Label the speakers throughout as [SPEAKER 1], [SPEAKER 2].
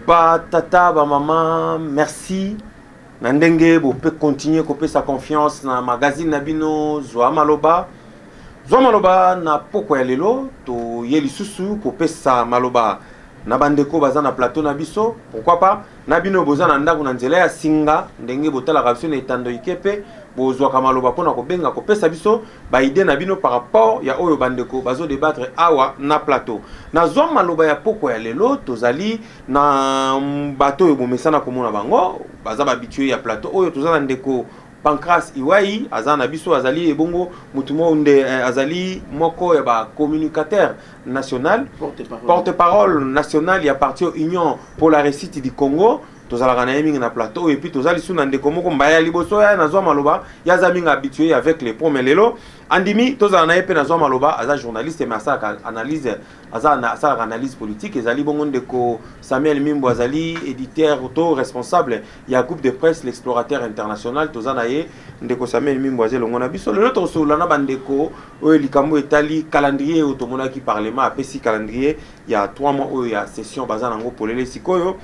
[SPEAKER 1] ba tata ba mama merci na ndenge bope continuer kopesa confiance na magazine na bino zwa maloba zwa maloba na pokwa ya lelo toye lisusu kopesa maloba na bandeko baza na plateau na biso pourquoi pas na bino boza na ndako na nzela ya singa ndenge botalaka biso na etando ike mpe bozwaka maloba mpona kobenga kopesa biso ba idee na bino par rapport ya oyo bandeko bazo debattre awa na plateau. Nazwa maloba ya pokwa ya lelo, tozali na bato oyo bomesana komona bango, baza ba habitués ya plateau oyo, toza na ndeko Pancras Iwai aza na biso, azali ebongo mutu moko nde eh, azali moko ya ba communicateur national porte-parole national ya parti Union pour la réussite du Congo tozalaka na ye mingi na plateau oyo epuis toza lisusu na ndeko moko mbaya ya liboso ya nazwa maloba ye aza mingi habitué avec le pont mais lelo andimi tozala na ye mpe nazwa maloba aza journaliste mais asalaka analyse aza asalaka analyse politique ezali bongo ndeko samuel mimbo azali éditeur to responsable ya groupe de presse l'explorateur international toza na ye ndeko samuel mimbo aza elongo na biso lelo tokosolola na bandeko oyo likambo etali calendrier oyo tomonaki parlement apesi calendrier ya 3 mois oyo ya session baza nango polele sikoyo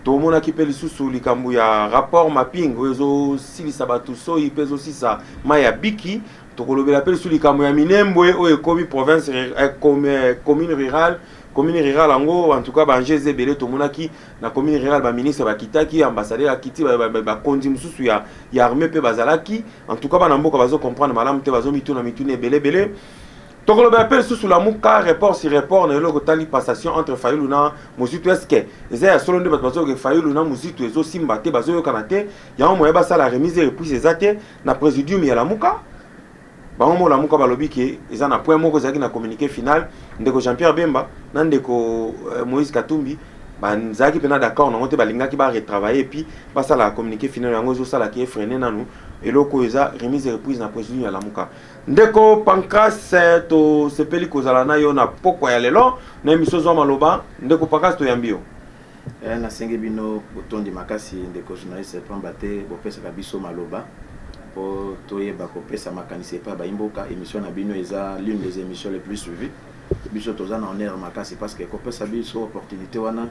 [SPEAKER 1] tomonaki mpe lisusu likambo ya rapport mapping oyo ezosilisa bato soyi mpe ezosisa mai ya biki tokolobela mpe lisusu likambo ya minembwe oyo ekomi province eh, eh, commune rurale commune rurale yango en tout cas baenjeu eza ebele tomonaki na commune rurale baministre bakitaki ambassadeur akiti bakonzi mosusu ya, ya armée mpe bazalaki en tout cas bana mboka bazo comprendre malamu te bazomituna mituna ebele ebele tokolobela mpe lisusu lamuka report sur report na eloko etali passation entre fayulu na mozitu eske eza ya solo nde bato bazoyoka fayulu na mozitu ezosimba te bazoyokana te yango moye basala remise reprise eza te na presidium ya lamuka bango moko lamuka balobi ke eza na point moko ezalaki na communiqué final ndeko jean pierre bemba na ndeko euh, moïse katumbi bazalaki mpena d'accord nango te balingaki baretravaille epuis basala communiqué final yango ezosala ke efrene nanu eloko oyo eza remise reprise na presidium ya lamuka Ndeko Pancras, eh, tosepeli kozala na yo na pokwa ya lelo na emission zwa maloba. Ndeko Pancras, toyambi yo. Eh, nasengi
[SPEAKER 2] bino botondi makasi ndeko journaliste pamba te bopesaka biso maloba mpo toyeba kopesa makanisi epai ya baimboka émission na bino eza l'une des émissions les plus suivies biso toza na honneur makasi parce que kopesa biso opportunité wana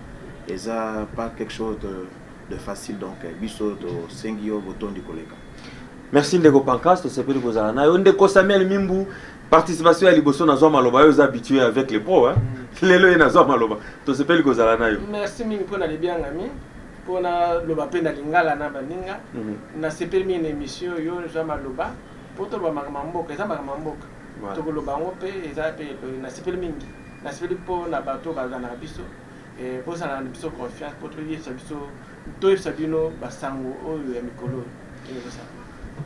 [SPEAKER 2] eza pas quelque chose de, de facile donc biso tosengi yo botondi koleka Merci ndeko
[SPEAKER 1] Pancras, tosepeli kozala nayo. Ndeko Samuel Mimbu, participation ya liboso nazwa maloba yo oza habitué avec les pros hein. Mm. Lelo ye nazwa maloba. Tosepeli kozala nayo. Merci mingi pona
[SPEAKER 3] libiangami. Pona loba pe na lingala na baninga. Mm -hmm. Na sepeli mingi na émission yo nazwa maloba. Po toloba makambo mboka, eza makambo mboka. Voilà. Tokoloba yango pe eza pe na sepeli mingi. Na sepeli po na bato bazana biso. Eh, bozala na biso confiance po toyebisa biso toyebisa bino basango oyo ya mikolo oyo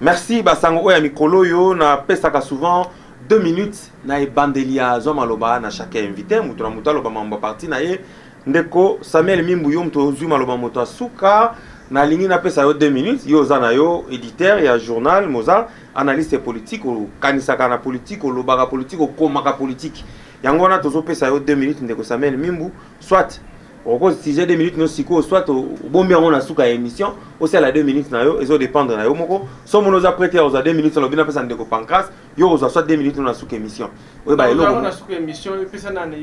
[SPEAKER 1] merci basango oyo ya mikolo oyo napesaka souvent deux minutes na ebandeli ya zwa maloba na chaque invité moto na moto aloba mambo ya parti na ye ndeko samuel mimbu yo moto ozwi maloba moto ya suka nalingi napesa yo deux minutes yo oza na yo éditeur ya journal moza analyste politique okanisaka na politique olobaka politique okomaka politique yango wana tozopesa yo deux minutes ndeko samuel mimbu soit oko sujet 2 minutes no sikoyo soit obombi yango na suka ya émission osala 2 minutes na yo ezo dépendre na yo moko so mona oza prête ya kozwa 2 minutes alobi napesa ndeko pancras yo okozwa soit 2 minutes no na suka émission oyo ba eloko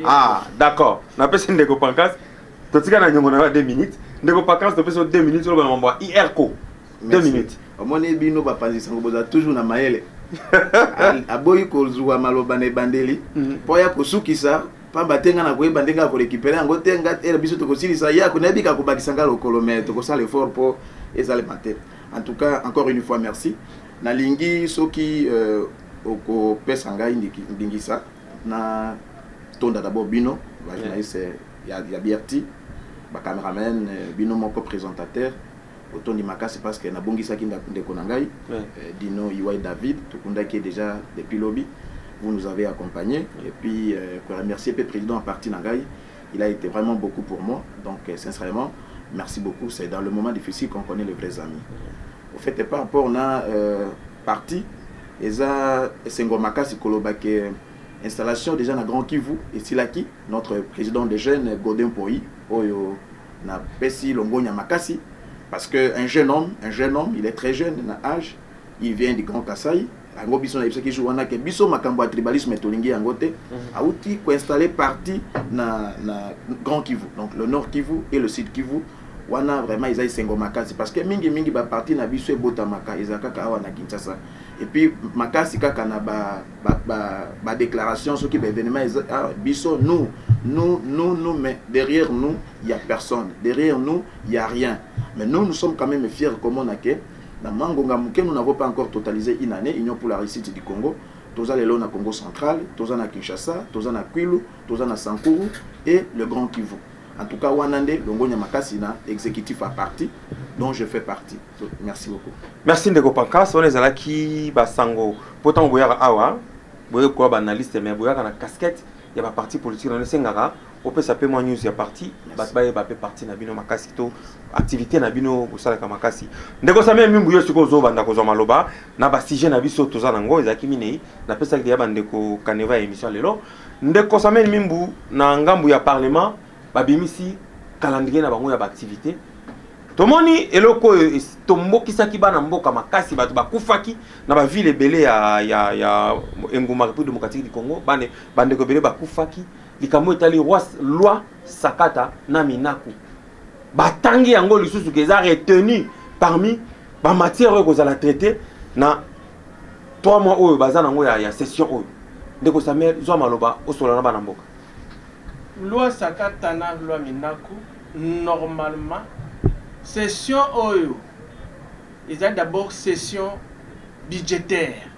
[SPEAKER 3] ah d'accord
[SPEAKER 1] napesi ndeko pancras totika na nyongo na yo 2 minutes ndeko pancras topesi yo 2 minutes oloba na mambo ya irco 2 minutes omoni bino bapanzi
[SPEAKER 2] sango boza toujours na mayele aboyi kozwa maloba na ebandeli mpo mhm. ya kosukisa pamba te ngai nakoyeba ndenge ya korekipere yango te ngai ere biso tokosilisa ye ako nayebi ka kobakisa ngai lokolo me tokosala effort mpo ezalema te en tout cas encore une fois merci nalingi soki euh, okopesa ngai ndingisa na tonda d'abord bino bajournaliste ya, ya brti bacameraman euh, bino moko présentateur botondi makasi parce que nabungisaki ndako ndeko na ngai Ouais. euh, Dino Iwai David tokundaki ye déjà depuis lobi vous nous avez accompagné et puis euh, ko remercier pe président en partie na ngai il a été vraiment beaucoup pour moi donc euh, sincèrement merci beaucoup c'est dans le moment difficile qu'on connaît les vrais amis au fait par rapport na euh, parti eza esengo makasi koloba ke installation déjà na grand kivu esilaki notre président de jeune godin poi oyo Na pesi longonya makasi parce que un jeune homme, un jeune homme, il est très jeune na âge, il vient du Grand Kasaï. Yango biso na ebisaki jour wana ke biso makambo ya tribalisme tolingi yango te. Mhm. Auti ko installer parti na na Grand Kivu. Donc le Nord Kivu et le Sud Kivu wana vraiment eza esengo makasi parce que mingi mingi ba parti na biso ebotamaka ezakaka awa na Kinshasa. Et puis makasi kaka na ba ba, ba, ba déclaration soki ba événement eza ah, biso nous nous nous nous mais derrière nous il y a personne derrière nous il y a rien mais nous nous sommes quand même fiers comme on a que na mangonga moke nous n'avons pas encore totalisé une année union pour la réussite du Congo toza lelo na Congo central toza na Kinshasa toza na Kwilu toza na Sankuru et le Grand Kivu en tout cas wana nde longonya makasi na exécutif à parti dont je fais partie merci beaucoup merci ndeko pancas
[SPEAKER 1] wana ezalaki basango mpo ntango boyaka awa boyei koya baanalyste mais boyaka na casquette ya baparti politique nano esengaka opesa mpe mwa news ya parti bato bayeba mpe parti na bino makasi to activité na bino bosalaka makasi ndeko samia mimbu yo sikoyo ozobanda kozwa maloba na basujet na biso toza na yango ezalaki minei napesaki deya bandeko kaneva ya émission lelo ndeko samia mimbu na ngambo ya parlement babimisi calendrier na bango ya baaktivite tomoni eloko oyo tombokisaki bana mboka makasi bato bakufaki na bavile ebele ya, ya, ya engumba république démocratique du congo bane bandeko ebele bakufaki likambo etali loi sakata na minaku batangi yango lisusu ke eza retenu parmi bamatière oyo ekozala traite na 3 mois oyo baza nango ya, ya session oyo ndeko samuel zwa maloba osola na bana mboka
[SPEAKER 3] Loi sakata na loi minaku normalement session oyo ezali d'abord session budgetaire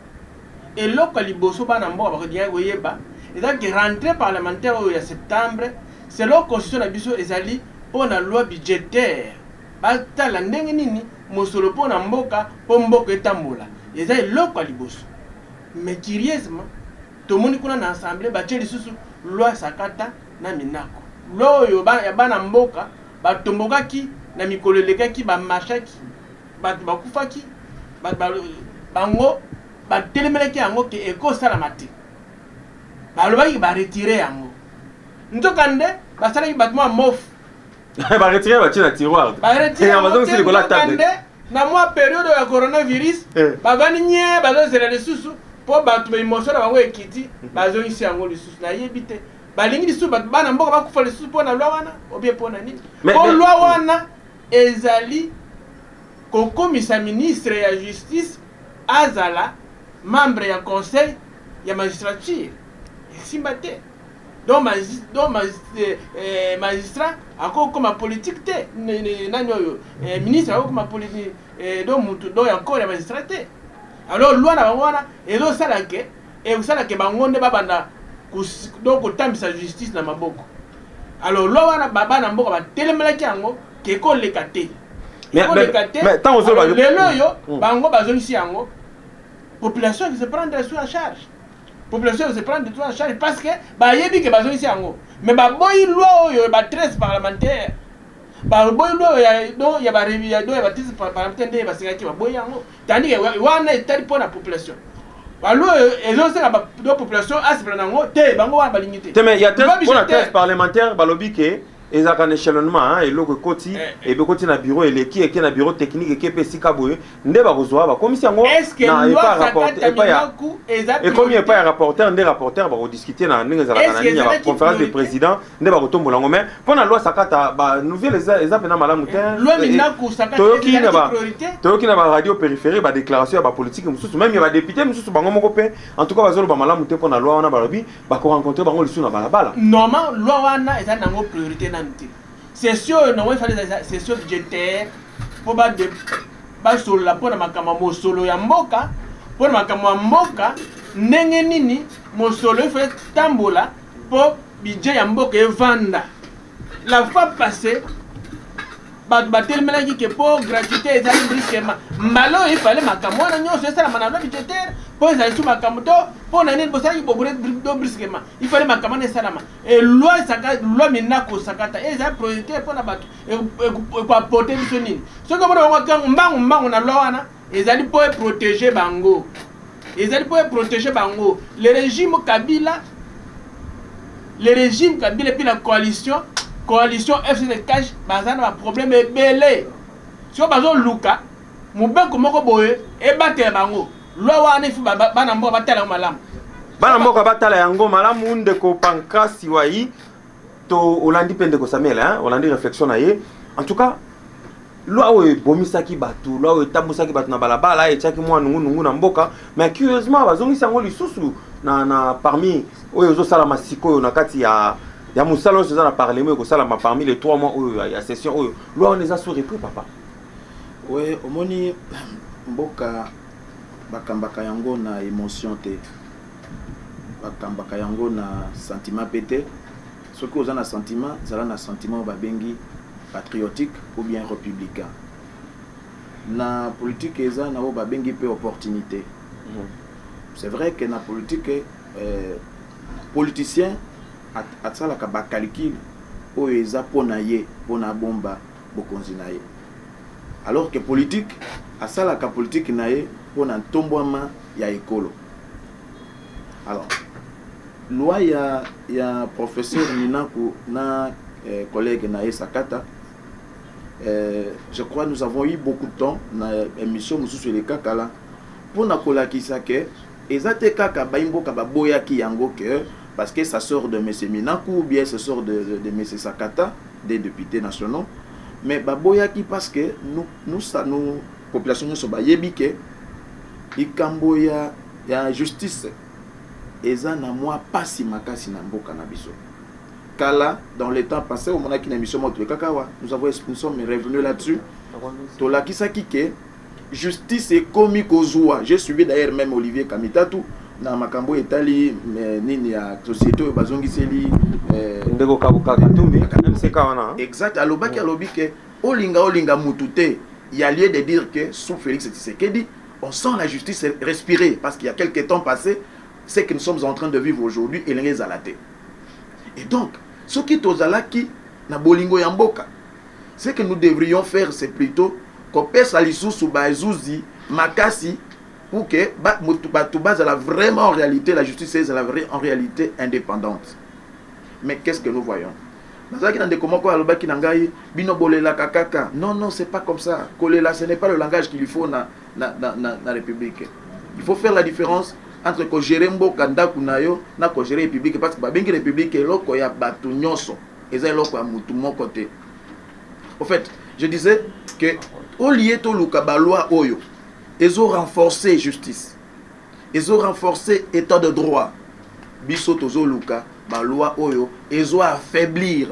[SPEAKER 3] eloko ya liboso bana mboka bakolingaki koyeba ezali ke rentree parlementaire oyo ya septembre selon constitution na biso ezali mpo na loi budgetaire batala ndenge nini mosolo mpo na mboka mpo mboka etambola eza eloko ya liboso mais curieusement Tomoni kuna na assemblee batie lisusu loi ya sakata na minako. Loi oyo ya bana mboka ba tombokaki na mikolo elekaki ba marchaki batu bakufaki bango ba telemelaki yango ke eko salama te. Balobaki ba retirer yango. Nzoka nde basalaki batu mua mof ba retire
[SPEAKER 1] ba china tiroir ba retire ba zongi
[SPEAKER 3] sili kola table
[SPEAKER 1] na mwa
[SPEAKER 3] periode ya coronavirus eh. ba bani nye ba zo zela lisusu po bato ba emotion na bango ekiti mhm. ba zongi si yango lisusu na yebi te ba lingi lisusu bato bana mboka ba kufa lisusu po na loi wana obie po na nini po loi mm. wana ezali kokomisa ministre ya justice azala membre ya conseil ya magistrature esimba te Donc magis donc magis eh, magistrat akoki kokoma politique te Ne- ne- nani oyo eh, ministre akoki kokoma politique eh, donc mutu donc ya corps ya magistrat te alors loi na bango wana ezosala ke ekosala ke bango nde babanda kos- donc kotambisa justice na maboko alors loi wana ba- bana mboka batelemelaki yango ke ekoleka te Mais- ekoleka mais- te
[SPEAKER 1] mais ntango ozoloba- Alors, lelo oyo Mm. bango
[SPEAKER 3] bazongisi yango population qui se prendre sous en charge population de se prendre tout en charge parce que bayebi ke bazongisi yango mais baboyi loi oyo ba 13 parlementaire baboyi loi oyo ya do ya ba ya do ya ba 13 parlementaire nde basengaki baboyi yango tandi ke wana etali mpo na population baloi oyo ezosala do population asepela na yango te bango wana balingi te te mais ya mpo na 13
[SPEAKER 1] parlementaire balobi ke ezalaka na échelonnement eloko ekoti eh, eh. ebe ekoti na bureau eleki eke na bureau technique eke mpe esika boye nde bakozwa bakomisi yango ekomi epai ya rapporteur nde rapporteur bakodiscute na ndenge ezalaka na nini ya baconférence de président nde bakotombola yango mais mpo na loi sakata banouvelle eza mpena malamu te toyoki na baradio périphérie badéclaration ya bapolitike mosusu meme ya badepute mosusu bango moko mpe en tout cas bazoloba malamu te mpo na loi wana balobi bakorencontre bango lisusu na balabala normal loi wana
[SPEAKER 3] eza nango priorité nanu te Session oyo nango efali ezalisa session budgetaire mpo basolola mpo na makambo ya mosolo ya mboka, mpo na makambo ya mboka, ndenge nini mosolo efali tambola mpo budget ya mboka evanda. La fois passée bato batelemelaki ke mpo gratuité ezali brusquement mbala oyo efale makambo wana nyonso esalama na loi budgetaire mpo ezali su makambo to mpo na nini bosalaki bobredo brusquement ifale makambo wana esalama Et loi saka loi mena ko sakata et ça priorité pour na bato et ko apporter biso nini soki omona bango tango mbangu mbangu na loi wana ezali mpo e protéger bango ezali mpo e protéger bango le régime Kabila le régime Kabila puis la coalition coalition FCD cash baza na ba problème ebele sio bazo luka Mobeko moko boye ebatela bango. Loi wana il faut bana mboka batala yango malamu. Bana mboka
[SPEAKER 1] batala yango malamu ndeko Pancrasi Wayi to olandi mpe ndeko Samuel hein, olandi reflexion na ye. En tout cas loi oyo ebomisaki bato loi oyo etambusaki bato na balabala etiaki mwa nungunungu na mboka mais curieusement bazongisi yango lisusu na, na parmi oyo ezosalama sikoyo na kati ya ya mosala oyo eza na parlement ekosalama parmi les trois mois oyo ya, ya session oyo loi wana eza sous repris papa Oui
[SPEAKER 2] omoni mboka bakambaka yango na emotion te bakambaka yango na sentiment pe te soki oza na sentiment zala na sentiment oyo babengi patriotique ou bien republicain na politique eza na oyo babengi pe opportunité mhm. c'est vrai que na politique euh, politicien asalaka bacalcule oyo eza mpo na ye mpo na bomba bokonzi na ye alors que politique asalaka politique na ye mpo na ntombwama ya ekolo alors loi ya, ya professeur Minaku na eh, collègue na ye Sakata eh, je crois nous avons eu beaucoup de temps na émission mosusu elekaka la mpo na kolakisa ke Eza te kaka bayi mboka ba boyaki yango que parce que ça sort de monsieur Minaku ou bien ce sort de monsieur Sakata deux deputes nationaux mais ba boyaki parce que nous nous ça nous population nionso ba yebi que likambo ya ya justice eza na mwa pasi makasi na mboka na biso kala dans le temps passé omonaki na émission moko tolekaka awa nous avons nous sommes revenu là-dessus tolakisaki ke Justice ekomi kozua. J'ai suivi d'ailleurs même Olivier Kamitatu na makambo etali eh, nini ya société oyo bazongiseli eh, ndeko
[SPEAKER 1] Katumbi MCK wana. Hein. Exact, alobaki mm. alobi
[SPEAKER 2] ke olinga olinga mutu te. Il y a lieu de dire que sous Félix Tshisekedi, on sent la justice respirer parce qu'il y a quelques temps passé, ce que nous sommes en train de vivre aujourd'hui elenge ezala te. Et donc, soki tozalaki na bolingo ya mboka Ce que nous devrions faire c'est plutôt kopesa lisusu bazuzi makasi pour que bato bazala vraiment en réalité la justice ezala vrai en réalité indépendante mais qu'est-ce que nous voyons nazalaki na ndeko moko alobaki na ngai bino bolelaka kaka non non c'est pas comme ça kolela ce n'est pas le langage qu'il faut na, na, na, na, na république il faut faire la différence entre kogere mboka ndako na yo na kogere république parce que babengi république eloko ya bato nyonso eza eloko ya mutu moko te au fait je disais que olie toluka baloi oyo ezo renforcer justice ezo renforcer état de droit biso tozoluka baloi oyo ezo affaiblir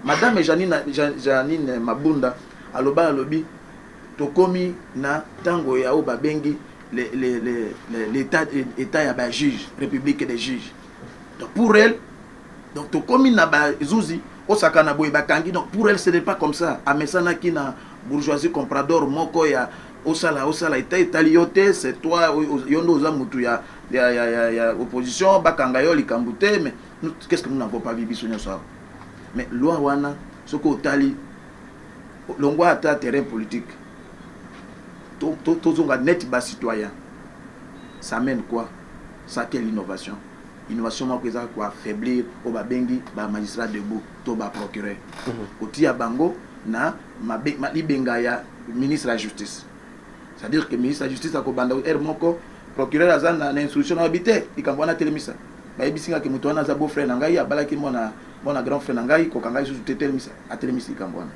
[SPEAKER 2] madame janine, janine mabunda aloba alobi tokomi na ntango ya oyo babengi l'état ya bajuge république des juges donc pour elle donc tokomi na bazuzi osaka na boye bakangi donc pour elle ce n'est pas comme ça amesanaki na bourgeoisie comprador moko ya osala osala eta etali yo te c'est toi yo nde oza mutu ya, ya, ya, ya, ya opposition bakanga yo likambo te mais qu'est-ce que nous n'avons pas vu biso nyonso awa mais loi wana soki otali longwa ata terrain politique tozonga to, to, net bas citoyen ça mène quoi Ça quelle innovation? Innovation moko eza ko affaiblir oyo ba bengi ba magistrats debout to ba procureurs. Kotiya bango na libenga ya ministre ya justice. C'est à dire que ministre ya justice ako banda heure moko procureur aza na instruction na lobi te likambo wana telemisa. Ba yebisi nga ke moto wana aza beau frère na ngai abalaki mwana mwana grand frère na ngai koka ngai lisusu te telemisa. Atelemisi likambo wana.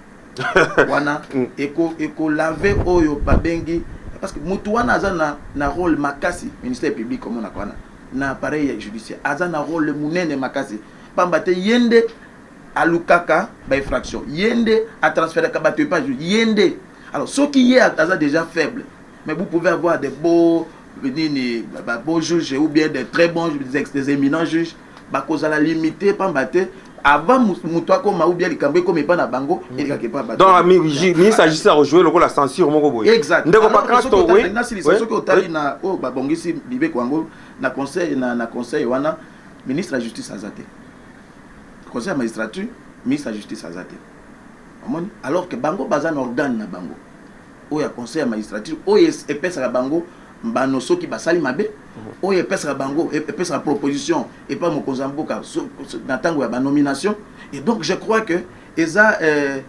[SPEAKER 2] wana mm. eko eko lave oyo babengi parce que mutu wana aza na na rôle makasi ministère public comme on a wana na appareil judiciaire aza na rôle munene makasi pamba te yende alukaka ba infraction yende a transféraka bato epa yende alors soki ye aza déjà faible mais vous pouvez avoir des beaux nini ba beaux juges ou bien des très bons des, des éminents juges bakozala limite pamba te avant moto akoma ou bien likambo ekoma epa na bango mm. elekaka epa bato donc ami
[SPEAKER 1] ministre agisi akojoue lokola censure moko boye exact ndeko pakrasto
[SPEAKER 2] oui
[SPEAKER 1] nasilisa soki otali na
[SPEAKER 2] oyo oh, babongisi mibeko yango na conseil na, na conseil wana ministre ya justice aza te conseil ya magistrature ministre ya justice aza te omoni alors que bango baza na organe na bango oyo ya conseil ya magistrature oyo epesaka bango mbano soki basali mabe mhm. oyo epesaka bango e-, epesaka proposition epa mokonzi ya mboka na ntango ya banomination et donc je crois que eza euh,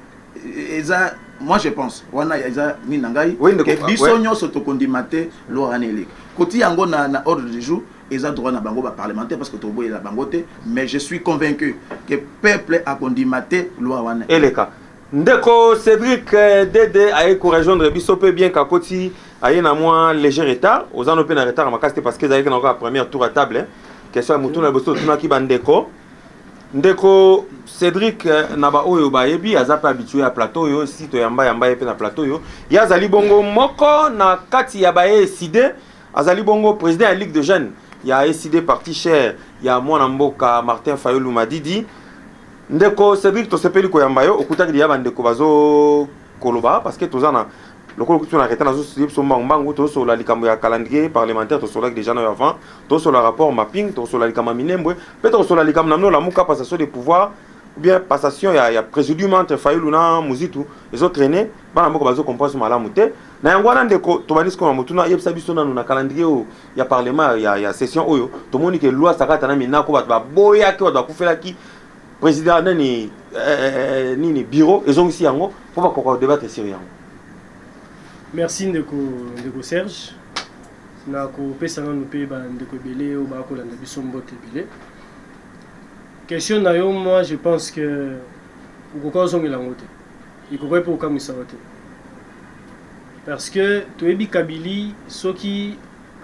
[SPEAKER 2] eza moi je pense wana eza nini na ngai ke biso
[SPEAKER 1] nyonso
[SPEAKER 2] tokondima te loi wana eleki koti yango na, na ordre du jour eza droit na bango baparlementaire parce que toboyela bango te mais je suis convaincu ke peuple akondima te loi wana eleka Ndeko
[SPEAKER 1] Cedric eh, Dede aye ko rejoindre biso pe bien kakoti aye na mwa léger retard oza no pe na retard makasi te parce que ezalaki na kaka première tour à table hein. question ya motuna liboso totunaki bandeko ndeko Cedric eh, na baoyo bayebi aza pe habitué ya plateau oyo si toyamba yamba ye pe na plateau oyo ye azali bongo moko na kati ya baye eside azali bongo président ya ligue de jeunes ya eside parti cher ya mwana mboka Martin Fayulu Madidi Ndeko Cedric tosepeli koyamba yo okutaki deya bandeko bazo koloba parce que toza na lokola okuti na retard nazosudie biso mbangu mbangu tosolola likambo ya calendrier parlementaire tosololaki déjà nayo avant tosolola rapport mapping tokosolola likambo ya minembwe mpe tokosolola likambo na mino lamuka passation de pouvoir ou bien passation ya, ya présidium entre fayulu na muzitu ezotraine bana mboka bazocomprendre malamu te na yango wana ndeko tobandi sikoma motuna yebisa biso nanu na calendrier oyo ya parlement ya, ya session oyo tomoni ke loi sakata na minako bato baboyaki bato bakufelaki President nani eh, nini bureau ezongisi yango mpo bakoka kodebattre sur yango.
[SPEAKER 4] Merci ndeko ndeko Serge na kopesa nanu mpe bandeko ebele oyo bakolanda biso mbote ebele. Question na yo moi je pense que okoka ozongela yango te, ekokai mpe kokamwisa yo te parce que toyebi Kabili soki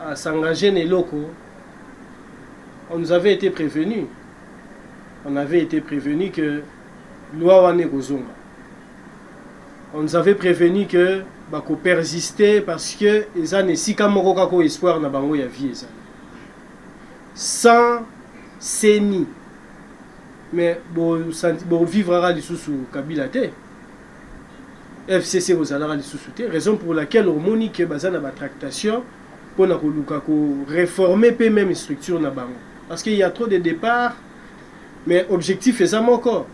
[SPEAKER 4] asengage na eloko on nous avait été prévenu on avait ete prevenu que loi wana ekozonga on nous avait prevenu que bako persister parce que eza na esika moko kaka oyo espoir na bango ya vie ezali sans seni mais bovivraka lisusu kabila te fcc kozalaka lisusu te raison pour laquelle omoni ke baza na batractation pona koluka ko reformer pe meme structure na bango parce qu'il y a trop de depart mais objectif eza moko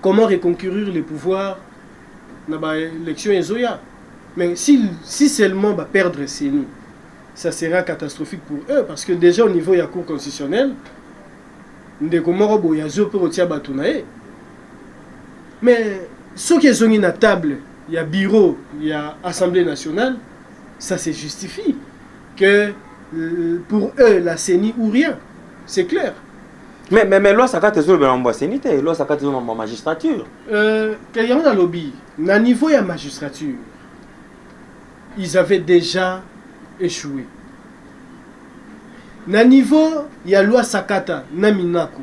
[SPEAKER 4] comment reconquérir le pouvoir na ba élection ezoya mais si, si seulement ba perdre CENI ça sera catastrophique pour eux parce que déjà au niveau ya cour constitutionnelle ndeko moko boye azo mpe kotia bato na ye mais soki ezongi na table ya bureau ya assemblée nationale ça se justifie que euh, pour eux la CENI ou rien, c'est clair. Mais mais mais
[SPEAKER 1] loi sakate zo ba mbo CENI te, loi sakate zo ma magistrature. Euh, que
[SPEAKER 4] y a lobby, na niveau ya magistrature, ils avaient déjà échoué. Na niveau ya loi sakata na minaku.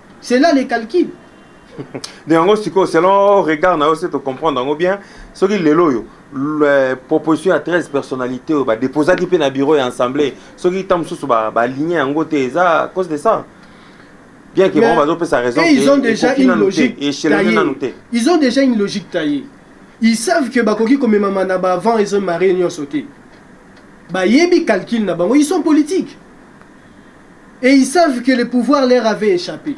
[SPEAKER 4] c'est là les calculs nde yango sikoyo selon
[SPEAKER 1] regard na yo se tocomprendre yango bien soki lelo oyo euh, proposition ya 13 personnalité oyo badeposaki mpe na bureau ya assemblée soki ntango mosusu baligne yango te eza cause de ça bien que bango bazopesa raison ils ont déjà
[SPEAKER 4] une logique ils ont déjà une logique taillée ils savent que bakoki komemama na baavant ezo marie nyonso te bayebi calcul na bango ils sont politiques et ils savent que le pouvoir leur avait echappe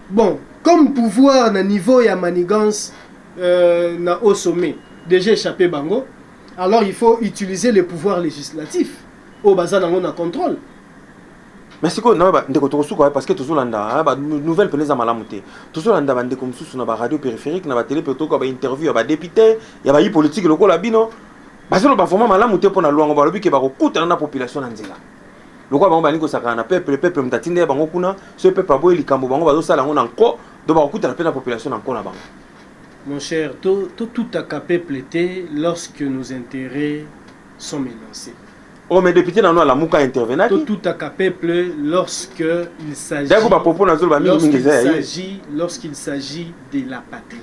[SPEAKER 4] bon comme pouvoir na niveau ya manigance euh, na au sommet déjà échappé bango alors il faut utiliser le pouvoir législatif oyo baza nango na contrôle
[SPEAKER 1] mais sikoyo na bandeko tokosuka parce que tozolanda banouvelle mpena eza malamu te tozolanda bandeko mosusu na baradio périphérique na batele mpe toyoka bainterview ya badepute ya bayi politike lokola bino bazoloba vraiment malamu te mpo na lwango balobi ke bakokutana na population na nzela lokola bango balingi kosakana na peuple peuple moto atindeli bango kuna soki peuple aboyi likambo bango bazosala yango na nko do bakokutana mpe na population na nko na bango mon cher
[SPEAKER 4] totutaka peuple te lorsque nos intérêts sont menacés oyo
[SPEAKER 1] me député nanu alamuka intervenaki totutaka peuple
[SPEAKER 4] lorsque il s'agit dako bapopo nazoloba mingi mingi eza ya ye lorsqu'il s'agit de la patrie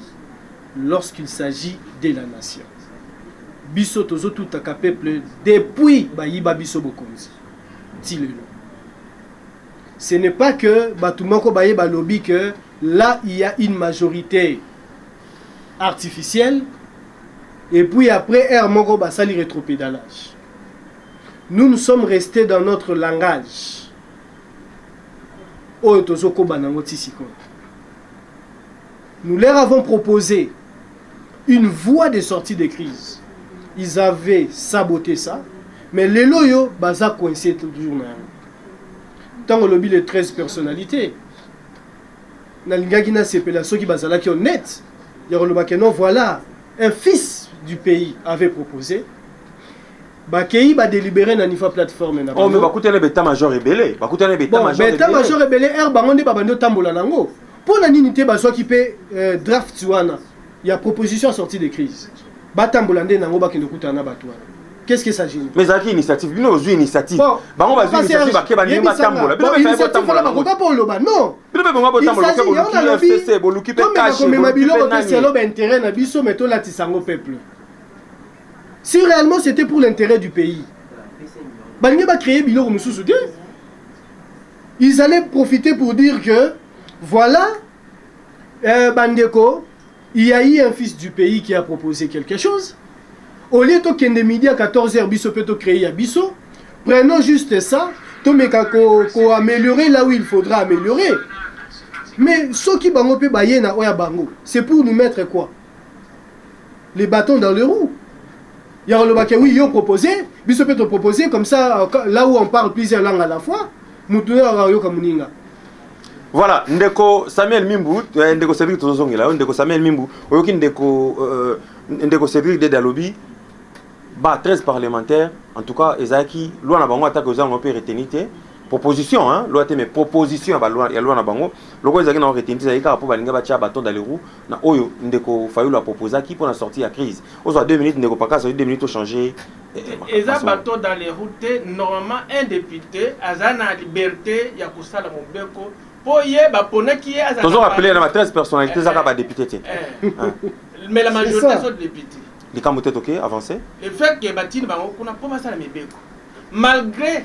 [SPEAKER 4] lorsqu'il s'agit de la nation biso tozo tutaka peuple depuis bayiba biso bokonzi ti lelo ce n'est pas que bato moko baye balobi que là il y a une majorité artificielle et puis après heure moko basali rétropédalage nous nous sommes restés dans notre langage oyo tozokoba nango ti sikoyo Nous leur avons proposé une voie de sortie de crise. Ils avaient saboté ça, mais les loyo baza coincé toujours na yango. Tango lobi les 13 personnalités, nalingaki na sepela soki bazalaki honnête, ya koloba que non voilà, un fils du pays avait proposé bakei badélibéré na nifa plateforme na oh, bango. Oh, mais bakutana beta
[SPEAKER 1] major ebele, bakutana beta major ebele. Beta major ebele,
[SPEAKER 4] er bango nde babandi otambola nango. Mpo na nini te bazwaki mpe eh, draft wana ya proposition sortie de crise batambola nde nango bakende kutana na bato wana qu'est-ce que ça gêne mais ezalaki initiative bino
[SPEAKER 1] ozwi initiative bango bazwi initiative bake balingi batambola bino mpe ezalaki botambola bango
[SPEAKER 4] bakoka mpo oloba non bino mpe bongo botambola
[SPEAKER 1] boke boluki fcc boluki mpe kashi komema biloko te selo
[SPEAKER 4] baintérêt na biso mais tolatisa yango peuple si réellement c'était pour l'intérêt du pays balingi bacréer biloko mosusu te Ils allaient profiter pour dire que voilà euh, bandeko il y a eu un fils du pays qui a proposé quelque chose au lieu tokende midi à 14h biso mpe tocree ya biso prenons juste ça tomeka koaméliorer ko là où il faudra améliorer mais soki bango mpe baye na oyo ya bango c'est pour nous mettre quoi les bâtons dans le roue ya koloba ke oui yo propose biso mpe topropose comme ça euh, là où on parle plusieurs langue à la fois motu oyo ayoka moninga
[SPEAKER 1] voilà ndeko samuel mimbu eh, ndeko cédric tozozongela yo ndeko samuel mimbu oyoki ndeko euh, ndeko cédric dede alobi ba 13 parlementaire en tout cas ezalaki loi na bango atako eza yango mpe reteni te proposition hein, loi te mais proposition ya loi na bango lokola ezalaki na reteni te ezalaki kaka mpo balinga batya baton daleroux na oyo ndeko fayulu apropozaki mpo na sortie ya crise ozwa 2 minutes ndeko pakasa oi 2 minutes ochange eh, eh, eza
[SPEAKER 3] bato dans les routes te normalement un député aza na liberté ya kosala mobeko mpo ye baponaki
[SPEAKER 1] ye aza tozo rappele na ba 13 personnalité eh, ezaka badepute te
[SPEAKER 3] mais la majorité azo député likambo te toke
[SPEAKER 1] avance le fait que batini
[SPEAKER 3] bango kuna mpo basala mibeko malgré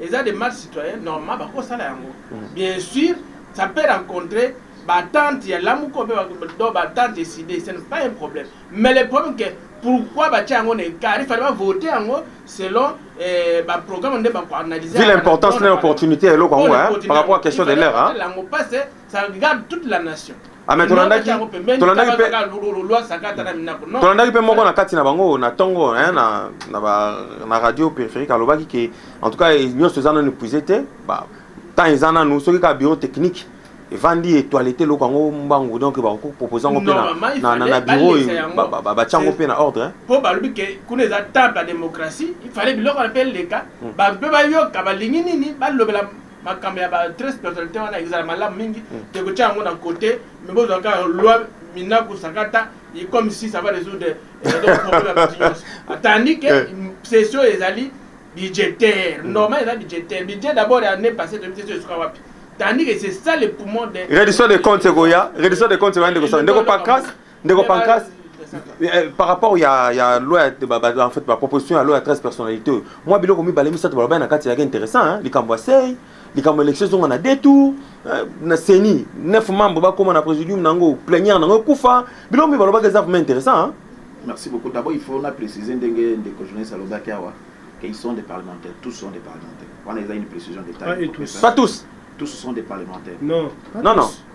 [SPEAKER 1] Eza
[SPEAKER 3] de marche citoyenne normal bako sala yango bien sur ça peut rencontrer ba tante ya lamuka obe do ba tante eside ce n'est pas un problème mais le problème que pourquoi ba tia yango na écart il fallait ba voter yango selon eh, ba programme nde ba ko analyser ville importance na
[SPEAKER 1] opportunité eloko yango hein par rapport à question de l'heure hein lango passe Ça
[SPEAKER 3] regarde toute la nation. Ah, mais tolandaki
[SPEAKER 1] tolandaki pe tolandaki pe moko na kati na bango na tongo hein na na ba na radio périphérique alobaki que en tout cas nyonso eza nanu épuisé te ba temps eza nanu soki ka bureau technique evandi etoilete eloko yango mbangu donc bakoki kopropose yango mpe na biro batya yango mpe na ordre mpo balobi ke kuna
[SPEAKER 3] eza temple ya démocratie ifale biloko na mpe eleka hmm. bato mpe bayoka balingi nini balobela makambo ya ba tres personnalité wana ezala malamu mingi hmm. te kotya yango na kote me bozwa kaka loi minaku sakata et comme si ça va résoudre euh, problème ya bitinyoso tandis que eh. session ezali budgétaire hmm. normal eza budgétaire budget d'abord ya année passée toyebi session esuka wapi tandis que c'est ça le poumon de reddition de compte ekoya
[SPEAKER 1] reddition de compte ekoya ndeko sala ndeko pancras ndeko pancras eh, par rapport ya ya loi ya ba- ba- en fait ba proposition ya loi ya 13 personnalité oyo mwa biloko mibale misato balobai na kati ezalaki intéressant hein, likambo ya sei likambo ya élection ezonga na deux tour eh, na ceni neuf membre bakoma na présidium na yango plénière na yango ekufa biloko mibale balobaki eza vraiment intéressant hein. Merci beaucoup. D'abord,
[SPEAKER 2] il faut na préciser ndenge ndeko journaliste alobaki awa que ils sont des parlementaires, tous sont des parlementaires. Wana eza une précision d'État. Pas et
[SPEAKER 1] tous.
[SPEAKER 2] pas tous
[SPEAKER 1] Tous
[SPEAKER 2] sont des parlementaires. Non. non non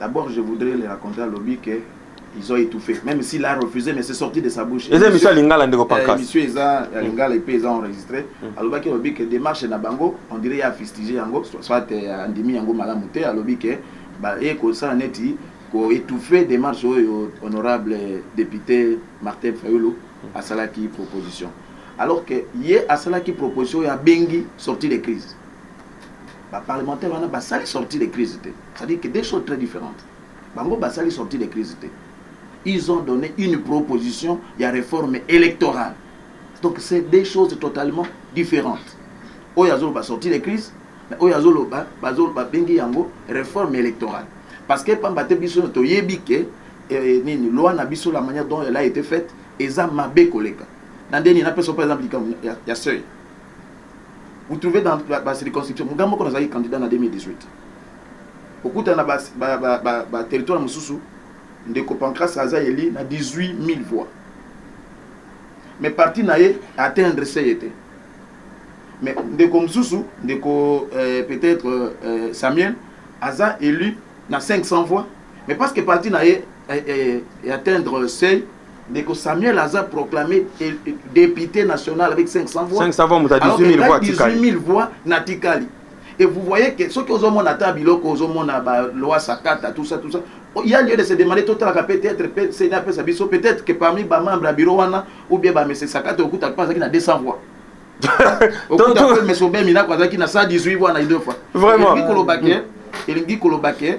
[SPEAKER 2] D'abord je voudrais le raconter alobi que ils ont étouffé même s'il a refusé mais c'est sorti de sa bouche eza émission ya lingala ndeko pancas
[SPEAKER 1] euh, émission eza ya mm. lingala
[SPEAKER 2] epe eza enregistré mm. alobaki alobi ke démarche na bango on dirait ya fistige yango soit euh, andimi yango malamu te alobi ke baye kosala neti ko étouffer démarche oyo honorable député martin fayulu mm. asalaki proposition alors que ye asalaki proposition ya bengi sortie de crise Ba parlementaires wana basali sortie de crise te. Ça dit que deux choses très differentes. Bango basali sortie de crise te. Ils ont donné une proposition ya réforme électorale. Donc c'est deux choses totalement différentes. Oyo azoloba sortie de crise, mais oyo azoloba bazoloba bengi yango réforme électorale. Parce que pamba te biso toyebi que eh, nini loi na biso la manière dont elle a été faite eza mabe koleka. Na ndeni na peso par exemple likambo ya, ya seuil. vous trouvez dans ba circonscription muga moko nazalaki candidat na 2018 okutana na ba, ba, ba, ba, ba territoire mosusu ndeko pancras aza eli na 18 000 voix mais parti na ye atteindre se ye te mais ndeko mosusu ndeko euh, peut-être euh, samuel aza élu na 500 voix mais parce que parti na ye eh, eh, atteindre seuil Ndeko Samuel aza proclamé député national avec 500 voix. 500 voix, muta 18000
[SPEAKER 1] voix tikali. 18000 voix na
[SPEAKER 2] tikali. Et vous voyez que soki ozomona ata biloko ozomona ba loi sakata tout ça tout ça oh, il y a lieu de se demander totalaka peut-être pe seni apesa biso peut-être que parmi ba membres ya bureau wana ou bien ba mese sakata okutaka mpe azalaki na 200 voix okuta mpe mese obemi nako azalaki na 118 voix na idofa vraiment elingi koloba ke elingi koloba ke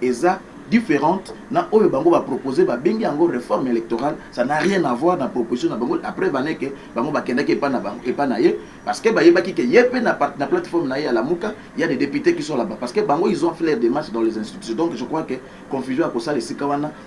[SPEAKER 2] eza differente na oyo bango ba proposer ba bengi yango reforme electorale ça n'a rien à voir na proposition na bango la preuve en est que bango ba kendaki epa na bango epa na ye parce que ba yebaki que ye pe na na plateforme na ye ya lamuka il y a des députés qui sont là-bas parce que bango ils ont fait leur démarche dans les institutions donc je crois que confusion ya kosala esika wana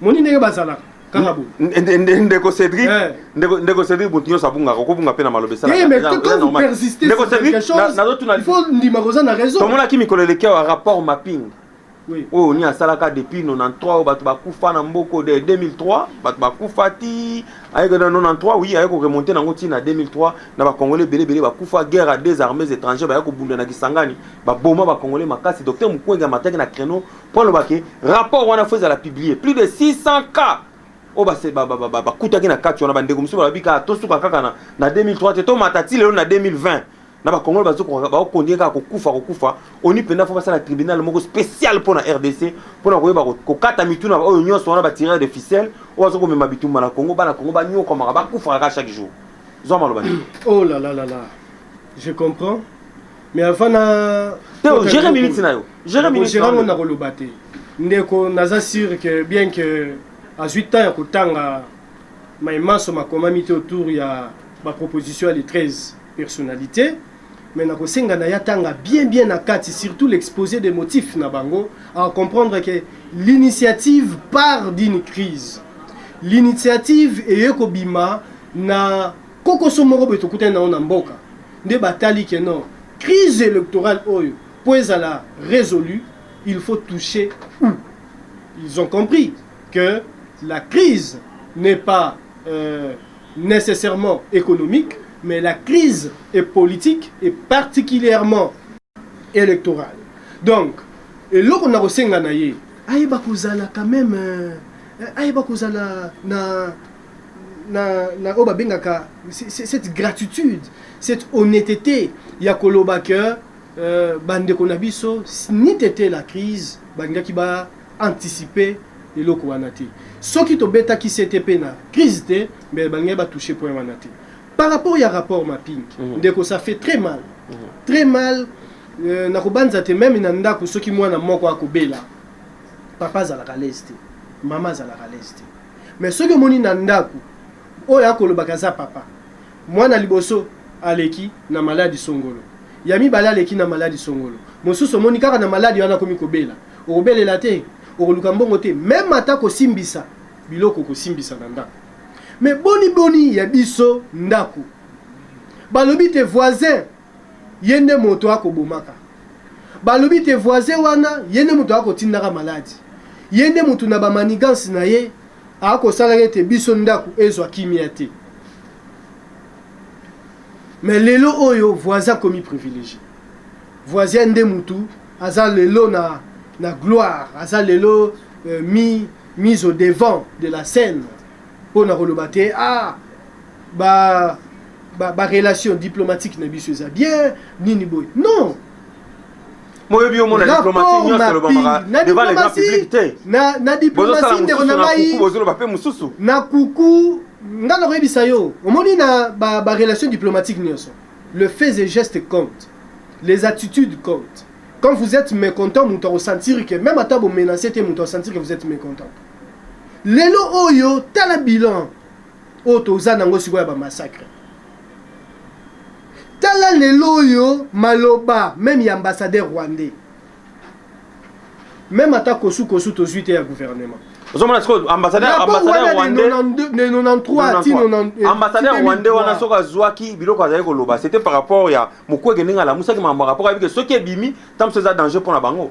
[SPEAKER 4] moni ndenge bazalaka kaka bo ndeko
[SPEAKER 1] Cédric eh. ndeko ndeko Cédric mutu nyonso abungaka okobunga mpe na maloba esalaka eh, ndeko Cédric nazotuna faut ndima koza na
[SPEAKER 4] raison tomonaki mikolo eleki awa
[SPEAKER 1] rapport mapping oyo ni asalaka depuis 93 oyo bato bakufa na mboko de 2003 bato bakufa ti ayeke na 93 oui ayeke koremonte nango ti na 2003 na bacongolais ebele ebele bakufa guerre à deux armées étrangères bayaki kobunda na kisangani baboma bacongolais makasi docteur mukwenge amataki na créneau mpo aloba ke rapport wana fo ezala publie plus de 600 cas oyo bakutaki na kati wana bandeko mosusu balobi kaka tosuka kaka na, na 2003 te tomata ti lelo na 2020 na bakongolo bazokontinue kaka kokufa kokufa oni mpenza fo basala tribunal moko spécial mpo na rdc mpo na koyeba kokata mitu na oyo nyonso wana batireur de ficelle oyo aza komema bitumba na congo bana congo banyokwamaka bakufaka kaka chaque jour zwa maloba oh la la la la
[SPEAKER 4] je comprends mais avant na teo gere minute
[SPEAKER 1] na yo gere minute gere ngo na
[SPEAKER 4] koloba te ndeko naza sûr que bien que azwi temps ya kotanga mai manso makomami te autour ya ba proposition ya le 13 personnalité mais nakosenga na ye atanga bien bien na kati surtout l'exposé des motifs na bango à comprendre que l'initiative part d'une crise l'initiative eye kobima na Kokoso moko boye tokutani na yango na mboka nde batali que non crise electorale oyo po ezala resolu il faut toucher où ils ont compris que la crise n'est pas euh, nécessairement économique mais la crise est politique et particulièrement électorale donc eloko na kosenga na ye ayeba kozala quand même euh, ayeba kozala na na, na oyo babengaka cette gratitude cette honnêteté ya koloba ke euh, bandeko na biso ni tete la crise balingaki ba anticiper eloko wana te soki tobetaki sete mpe na crise te mbe balingaki batouche point wana te par rapport ya rapport mapping mm -hmm. ndeko ça fait très mal mm -hmm. très mal euh, nakobanza te meme na ndako soki mwana moko akobela papa azalaka lese te mama azalaka lese te mais soki omoni na ndaku oyo akolobaka aza papa mwana liboso aleki na maladi songolo ya mibale aleki na maladi songolo mosusu omoni kaka na maladi wana akomi kobela okobelela te okoluka mbongo te meme ata kosimbisa biloko kosimbisa na ndako me boni boni ya biso ndako balobi te voisin ye nde moto ako bomaka balobi te voisin wana ye nde moto ako tindaka malade ye nde moto na ba manigances na ye ako sala ete biso ndaku ezwa kimia te mais lelo oyo voisin akomi privilegie voisin nde moto aza lelo na na gloire aza lelo euh, mi mise au devant de la scène pona koloba te ah ba ba, ba relation diplomatique na biso eza bien nini boye non
[SPEAKER 1] moyebi yo mona diplomatie nyonso elobamaka devant les grands publics te na na diplomatie
[SPEAKER 4] ndeko na ngai bozoloba pe mosusu na kuku nga na koyebisa yo omoni na ba, ba relation diplomatique nyonso le fait et geste compte les attitudes comptent quand vous êtes mécontent moto akosentir que même ata bomenace te moto akosentir que vous êtes mécontent lelo oyo tala bilan oyo toza nango sikoyo ya ba massacre tala lelo oyo maloba meme ya ambassadeur rwandais meme ata kosu kosu tozwi te ya gouvernement ozomona sikoyo ambassadeur
[SPEAKER 1] ambassadeur rwandais de 93 ti 90 ambassadeur rwandais wana soki azwaki biloko azali koloba c'était par rapport ya mokwege ndenge alamusaki makambo ya rapport ayebike soki ebimi ntango mosusu eza danger mpo na bango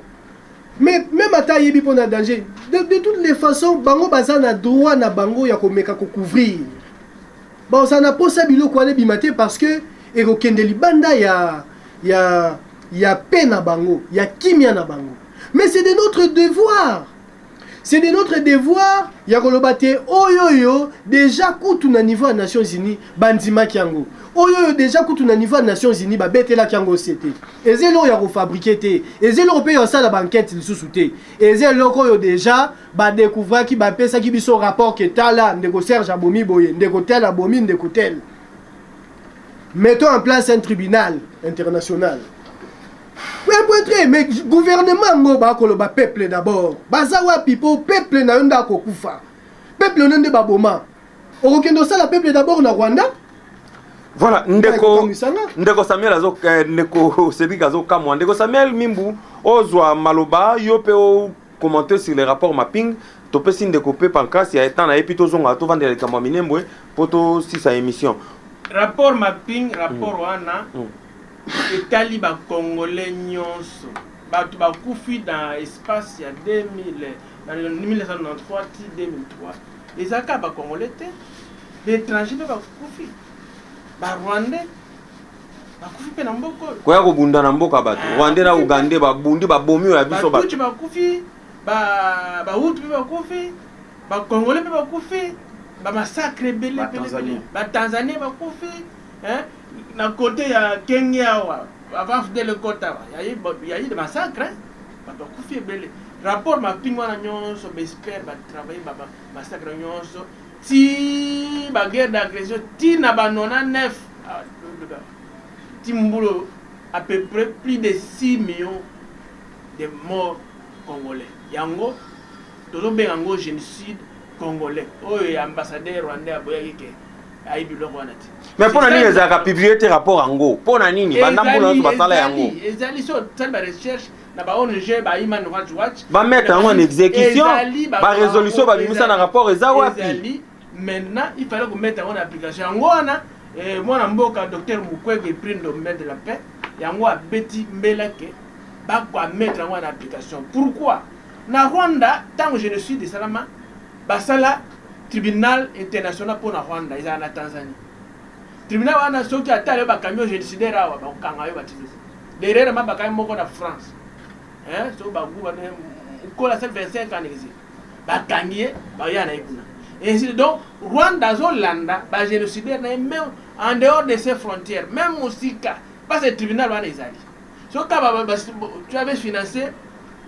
[SPEAKER 1] Mais
[SPEAKER 4] même ata ayebi mpo na danger, de, de toutes les façons bango baza na droit na bango ya komeka kocouvrir. Baoza na posa biloko wana ebima te parce que ekokende libanda ya ya ya paix na bango, ya kimia na bango. Mais c'est de notre devoir. C'est de notre devoir ya koloba te oyo oyo deja kutu na niveau ya Nations Unies bandimaki yango. Oyo oyo deja kutu na niveau ya Nations Unies babetelaki yango sete. eza eloko ya kofabrike te eza eloko mpe ya kosala bankete lisusu te eza eloko oyo deja badekouvraki bapesaki biso rapport ke tala ndeko serge abomi boye ndeko tel abomi ndeko tel mettons en place un tribunal international epoetre mais gouvernement yango bakoloba peuple d'abord baza wapi mpo peuple na yo nde akokufa peuple na yo nde baboma okokende osala peuple d'abord na rwanda voilà
[SPEAKER 1] ndeko ndeko samuel azo eh, ndeko cedric azokamwa ndeko samuel mimbu ozwa maloba yo mpe okommente sur le rapport mapping topesi ndeko mpe pancrase ya etan na ye mpe tozongaka tovandela likambo ya minembwe mpo tosisa émission rapport
[SPEAKER 3] mapping rapport mm. wana mm. etali bacongolais nyonso bato bakufi na espace ya 2000 na 1993 ti 2003 Eza kaka ba congolais te ba etrangers pe ba kufi ba rwandais bakufi mpe na mboka oyo koya kobunda na mboka
[SPEAKER 1] bato ah, rwande na ugande babundi babomi oyo ya biso batuci bakufi
[SPEAKER 3] bahutu mpe bakufi bakongole mpe bakufi bamasakre ebele batanzanie bakufi na kote ya kenge awa avant fdele kota yayi de masakre Batu bakufi ebele. Rapport mapping wana nyonso ba experts ba travailler ba massacre nyonso ti ba guerre d'agression ti na ba 99 ah, ti mbulo à peu près plus de 6 millions de morts congolais yango tozobenga yango génocide congolais oyo ya ambassadeur rwandais aboyaki ke ayebi biloko wana te mais mpo na nini ezalaka
[SPEAKER 1] publie te rapport yango mpo na nini banda mbula nyonso basala yango ezali so osali
[SPEAKER 3] barecherche na ba ong ba human rights watch bamettre yango en
[SPEAKER 1] exécution barésolution babimisa na rapport eza wapi maintenant il
[SPEAKER 3] fallait komettre yango na application yango wana eh, mwana mboka docteur mukwege prime de main de la paix yango abeti mbela ke bakoamettre yango na application pourquoi na rwanda ntango génocide esalama Basala tribunal international mpo na Rwanda ezala na Tanzanie. Tribunal wana soki ata yo bakangi yo genocidaire awa bakokanga yo batizo. Derrière ma bakangi moko na France. Hein, so bagu wana kola se 25 ans exil. Bakangi ye, baya na ye kuna. Ainsi donc Rwanda azolanda ba genocidaire na ye même en dehors de ses frontières, même mosika parce que tribunal wana ezali. soki kaka ba- ba- ba- tu avais financé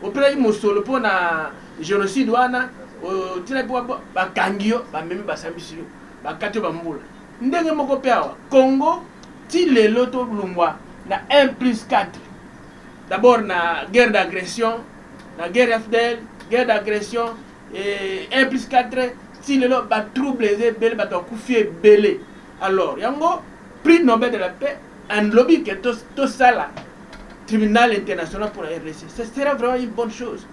[SPEAKER 3] opelaki mosolo mpo na génocide wana otinaki mpo ba- bakangi yo bamemi basambisi yo bakati yo bambula ndenge moko mpe awa congo ti lelo tolungwa na 1 plus 4 d'abord na guerre d'agression na guerre ya fdl guerre d'agression eh, 1 plus 4 ti lelo batrouble eza ebele bato bakufi ebele alors yango prix nobel de la paix En lobi que to to sala tribunal international pour la RDC. Ce sera vraiment une bonne chose.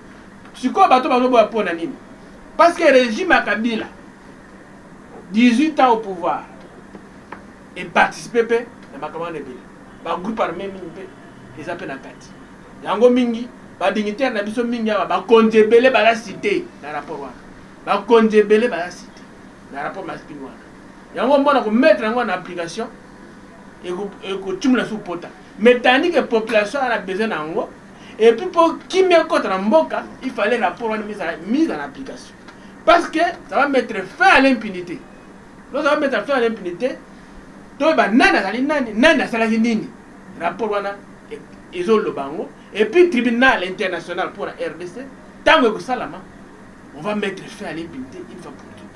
[SPEAKER 3] Sikoyo bato bazoboya mpo na nini? Parce que régime ya Kabila 18 ans au pouvoir et participer mpe na makambo wana ebele ba groupe armé mingi mpe eza mpe na kati yango mingi badignitaire na biso mingi awa bakonzi ebele baza cité na rapport wana bakonzi ebele baza cité na rapport masping wana yango mona komettre yango na application ekotimula su pota mais tandi ke population ana besoin na yango et puis mpo kimia ekota na mboka il fallait rapport wana ezala mise en application parce que ça va mettre fin à l'impunité lorsque va mettre fin à l'impunité toyeba nani azali nani nani asalaki nini rapport wana e, ezoloba yango et puis tribunal international mpo na rdc ntango ekosalama on va mettre fin à l'impunité une fois pour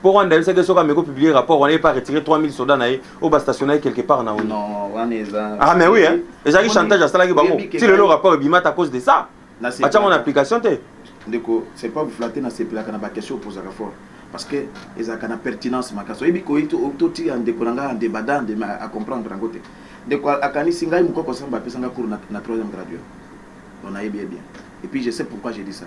[SPEAKER 1] Mpo Rwanda ayebisaki ye soki ameki kopublie rapport wana ye mpe aretire 3000 soda na ye oyo bastationnaki quelque part na onu ah
[SPEAKER 2] mais oui hein
[SPEAKER 1] ezalaki chantage asalaki bango ti lelo rapport ebimata à cause de ça batyango na application te ndeko c'est
[SPEAKER 2] pas flatte nasepelaka na baquestion opozaka fort parce que ezalaka na pertinence makasi oyebi koyi totiya ndeko na ngai ande badande acomprendre yango te ndeko akanisi ngai mokoko samba apesa ngai cours na troisième graduat on ayebi ye bien et puis je sais pourquoi je dis ça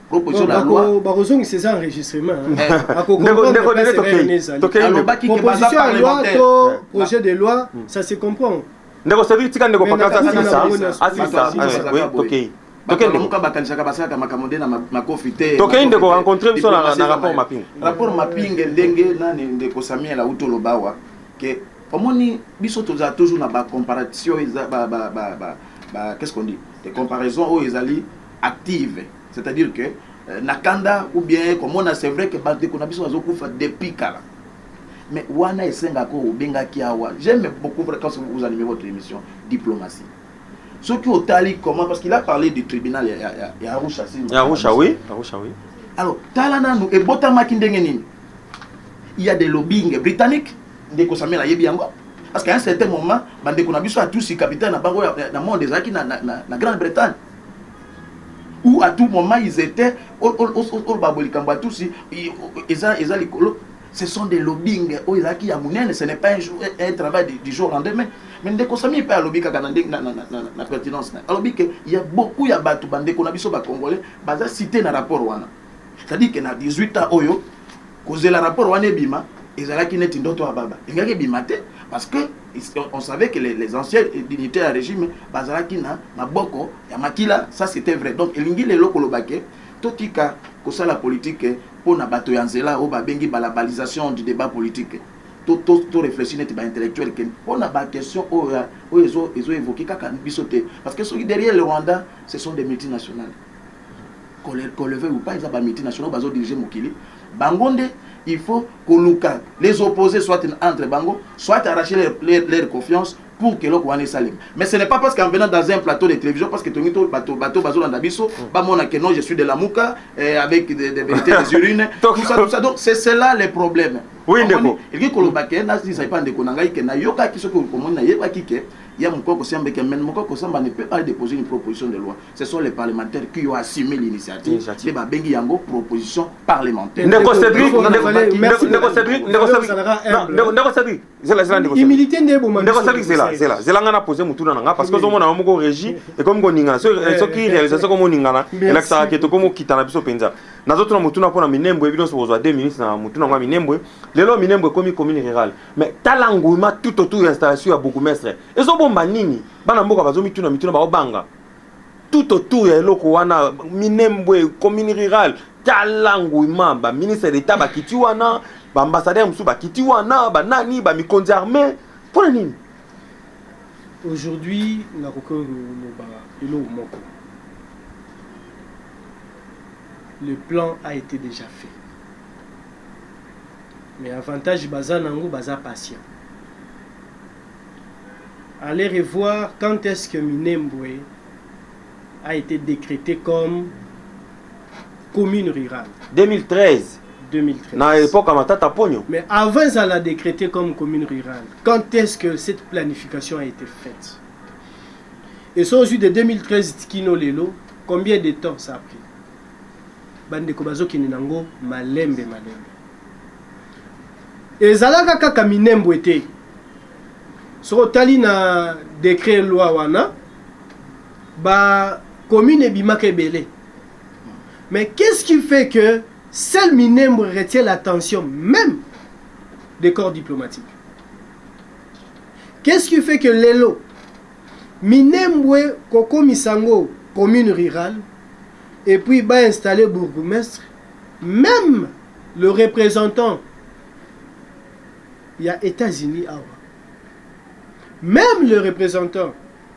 [SPEAKER 1] proposition na loi
[SPEAKER 2] bakozongisa eza
[SPEAKER 4] enregistrement
[SPEAKER 2] alobaki ke baza parlementaire
[SPEAKER 4] projet de loi hmm. ça se comprend ndeko sevi tika
[SPEAKER 1] ndeko pakasa asisa asisa tokei tokendeka
[SPEAKER 2] bakanisaka basalaka makambo nde na makofi te tokei ndeko rencontre
[SPEAKER 1] biso na rapport mapinge rapport mapinge
[SPEAKER 2] ndenge nani ndeko samuel auti oloba awa ke omoni biso tozala toujours na bacomparation qu'est ce qu'on dit des comparaisons oyo ezali active c'est à dire que euh, na kanda ou bien komona c'est vrai que bandeko na biso bazokufa depuis kala mais wana esengaka obengaki awa j'aime beaucoup quand vous animez votre émission diplomatie soki otali comment parce qu'il a parlé du tribunal ya, ya, ya, ya arusha si ya arusha oui arusha
[SPEAKER 1] oui
[SPEAKER 2] alors tala nanu ebotamaki ndenge nini il y a des lobbying britanniques ndeko samuel ayebi yango parce qu'à un certain moment bandeko na biso atusi capitaine na bango na monde ezalaki na, na, na, na grande bretagne ou à tout moment ils étaient oloba boye likambo ya tusi eza eza likolo ce sont des lobbying oyo ezalaki ya monene ce n'est pas un, jour, un travail du, du jour lendemain mais ndeko sami mpe alobi kaka na ndenge na, na, na, na, na pertinence na alobi ke ya beaucoup ya bato bandeko na biso bacongolais baza cité na rapport wana c'est-à-dire ke na 18 ans oyo Kozela rapport wana ebima ezalaki neti ndoto ya baba elingaki ebima te parce que on savait que les, les anciens dignitaires ya régime bazalaki na maboko ya makila ça c'était vrai donc elingi lelo koloba ke totika kosala politike mpo na bato ya nzela oyo babengi balabalisation du débat politique toreflechi neti baintellectuel ke mpo na baquestion oyo oyo ezoevoke kaka biso te parce que soki derrière le rwanda ce sont des multinationales Qu'on le veuille ou pas, eza ba multinationaux bazo diriger mokili. Bango nde il faut koluka les opposés soit entre bango, soit arracher leur, leur, leur confiance pour que eloko wana esalema. Mais ce n'est pas parce qu'en venant dans un plateau de télévision, parce que tongi to bato bato bazolanda biso, mm. bamona que non, je suis de la Mouka, eh, avec des, des vérités des urines, tout ça, tout ça. Donc c'est cela les problèmes. Oui, ndeko. Eliki
[SPEAKER 1] koloba ke na
[SPEAKER 2] zisa pa ndeko na ngai ke na yoka ki soki okomoni na yeba ki ke ya mukoko sembe ke men mukoko samba ne peut pas déposer une proposition de loi. ce sont les parlementaires qui ont assumé l'initiative nde babengi yango proposition parlementaire ndeko cédric ndeko cédric ndeko cédric
[SPEAKER 4] ndeko cédric zela zela ndeko humilité nde eboma ndeko cédric zela zela zela
[SPEAKER 1] nga na poser motuna na nga parce que ozomona yo moko régie ekomi koningana soki réalisation ekomi koningana elakisaka ke tokomi okitana biso mpenza nazotuna motuna mpo na minembwe bino sokozwa 2 minutes na motuna yango ya minembwe lelo minembwe ekomi commune rurale mais tala nguma tout autour ya installation ya bourgmestre ezobomba nini bana mboka bazomituna mituna baobanga tout autour ya eloko wana minembwe commune rurale tala nguima baministre d'etat bakiti wana baambassadeur mosusu bakiti wana banani bamikonzi armée mpo na nini aujourd'hui
[SPEAKER 4] nakoki koloba eloko moko le plan a été déjà fait mais avantage baza nango baza patient Aller et voir quand est-ce que Minembwe a ete decretee comme commune rurale. 2013 2013.
[SPEAKER 1] na
[SPEAKER 4] epoque ya matata
[SPEAKER 1] ponyo Mais avant ezala
[SPEAKER 4] décrété comme commune rurale, quand est-ce que cette planification a été faite Et ça, aujourd'hui de 2013 Tikino Lelo, combien de temps ça a pris Bandeko bazokende nango malembe malembe. Ezalaka kaka Minembwe te, soki otali na decret loi wana ba commune ebimaka ebele mais qu'est-ce qui fait que seul Minembwe retient l'attention même des corps diplomatiques qu'est-ce qui fait que lelo Minembwe kokomisa yango commune rurale et puis ba installer bourgmestre même le représentant ya etats unis awa meme le representant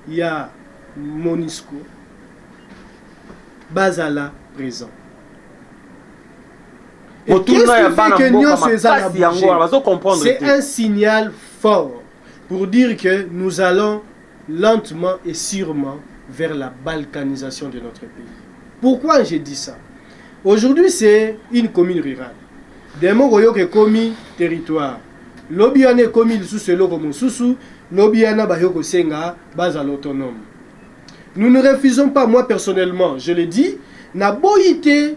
[SPEAKER 4] ya monisco bazala present motuna ya bana mboka makasi yango wana bazo comprendre te c'est un signal fort pour dire que nous allons lentement et surement vers la balkanisation de notre pays pourquoi je dis ça aujourd'hui c'est une commune rurale demain okoyoka ekomi territoire lobi wana ekomi lisusu eloko mosusu lobi wana bayo kosenga bazala autonome nous ne refusons pas moi personnellement je le dis naboyi te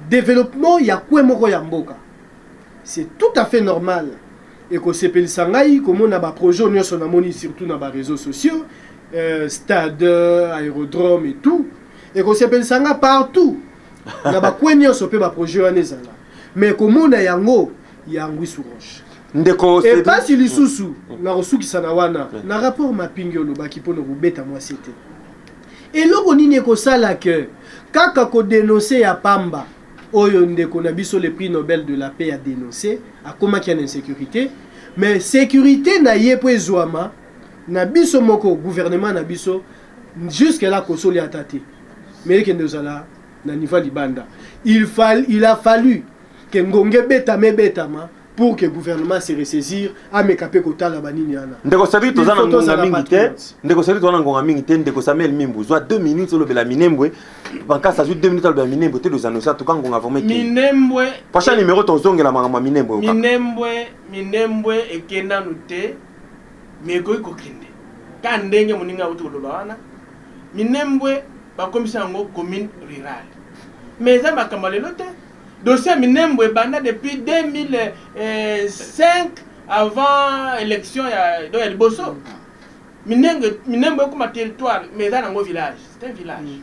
[SPEAKER 4] développement ya kwe moko ya mboka C'est tout à fait normal ekosepelisa ngai komona ba projets oyo nyonso namoni surtout na ba réseaux sociaux euh, stade euh, aérodrome et tout ekosepelisa ngai partout na bakwe nyonso mpe baprojet wana ezala mais komona yango ya ngwi sur roche ndeko Cedric- epasi lisusu na kosukisa na wana na rapport mapingi olobaki mpo na kobeta mwasi te eloko nini ekosala ke kaka kodenonse ya pamba oyo ndeko na biso le prix Nobel de la paix a denonce akomaki en insecurite mais securite na ye po ezwama na biso moko gouvernement na biso jusque là kosoli ata te mais ekende ozala na niveau libanda il, fal, il a fallu ke ngonge betama ebetama pour que gouvernement se ressaisir ameka pe kotala banini ana ndeko sabi toza na
[SPEAKER 1] ngonga mingi te ndeko sabi toza na ngonga mingi te ndeko samuel mimbu zwa 2 minutes olobela minembwe bankasi azwi 2 minutes alobela minembwe te toza nosa toka ngonga vraiment minembwe
[SPEAKER 3] prochain numéro
[SPEAKER 1] tozongela makambo ya minembwe minembwe
[SPEAKER 3] minembwe eke nanu te me ekoki kokende ka ndenge moningi auti koloba wana minembwe bakomisa yango commune rurale mais eza makambo ya lelo te Dossier ya Minembwe ebanda depuis 2005 avant election ya do ya liboso. Minembwe Minembwe ekoma territoire mais eza nango village, c'est un village.